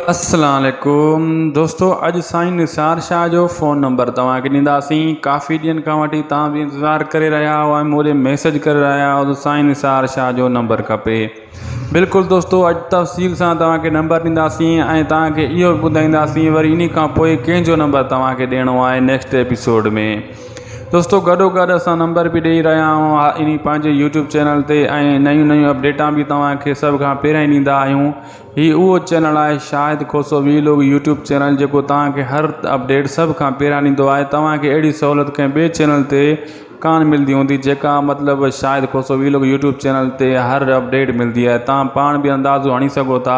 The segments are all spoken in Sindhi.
السلام عليڪم دوستو اڄ سائين نثار شاھ جو فون نمبر توهان کي ڏينداسين ڪافي ڏينھن کان وٺي توهان به انتظار ڪري رهيا آهيو ۽ موري ميسج ڪري رهيا آهيو ته سائين نثار شاھ جو نمبر کپي بلڪل دوستو اڄ تفصيل سان توهان کي نمبر ڏينداسين ۽ توهان کي اهو به ٻڌائينداسين وري ان کان پوء ڪنهن جو نمبر توهان کي ڏيڻو آهي نيڪسٽ ايپيسوڊ ۾ دوستو گڏو گڏ اسان نمبر به ڏيئي رهيا آهيون ان پنهنجي يوٽيوب چينل تي ۽ نيون نيون اپڊيٽان به توهان کي سڀ کان پهريائين ڏيندا آهيون هي اهو چينل آهي Shahid Khoso vlog YouTube channel جيڪو توهان کي هر اپڊيٽ سڀ کان پهريان ڏيندو آهي توهان کي اهڙي سهولت ڪنهن ٻئي چينل تي ڪانه ملندي هوندي جيڪا مطلب Shahid Khoso vlog YouTube channel تي هر اپڊيٽ ملندي آهي توهان پاڻ به اندازو هڻي سگهو ٿا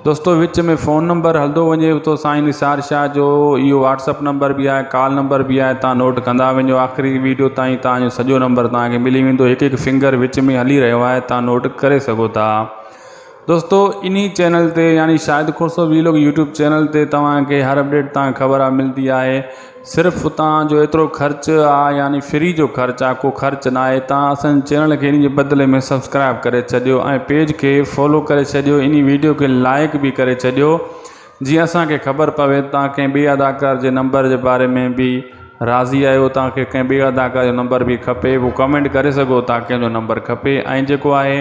دوستو وچ ۾ فون نمبر هلندو وڃي ٿو سائين نثار شاهه جو اهو واٽسپ نمبر به آهي ڪال نمبر به آهي توهان نوٽ ڪندا وڃو آخري ويڊيو تائين توهان جو سڄو نمبر توهان کي ملي ويندو هڪ هڪ فنگر وچ ۾ هلي رهيو آهي توهان نوٽ ڪري سگهو ٿا دوستو انهي چينل تي يعني Shahid Khoso vlog YouTube channel تي توهان کي هر اپڊيٽ تان خبر آ ملدي آهي صرف اتان جو ايترو خرچ آ يعني فري جو خرچ آ ڪو خرچ نه آهي توهان اسان چينل کي انهي جي بدلي ۾ سبسڪرائب ڪري ڇڏيو ۽ پيج کي فالو ڪري ڇڏيو انهي ويڊيو کي لائڪ به ڪري ڇڏيو جيئن اسان کي خبر پوي توهان ڪنهن ٻي اداڪار جي نمبر جي باري ۾ به راضي آهيو توهان کي ڪنهن ٻي اداڪار جو نمبر به کپي ڪمينٽ ڪري سگهو ٿا ڪنهن جو نمبر کپي ۽ جيڪو آهي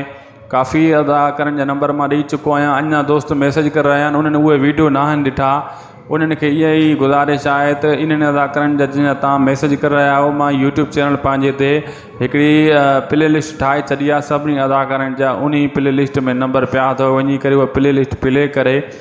ڪافي ادا ڪرڻ جا نمبر مان ڏئي چڪو آهيان اڃان دوست ميسج ڪري رهيا آهن انهن اهي ويڊيو ناهن ڏٺا انهن کي اها ئي گذارش آهي ته انهن ادا ڪرڻ جا جن جا تان ميسج ڪري رهيا آهيو مان يوٽيوب چينل پنهنجي تي هڪڙي پلي لسٽ ٺاهي ڇڏي آهي سڀني ادا ڪرڻ جا انهي پلي لسٽ ۾ نمبر پيا اٿو وڃي ڪري اهو پلي لسٽ پلي ڪري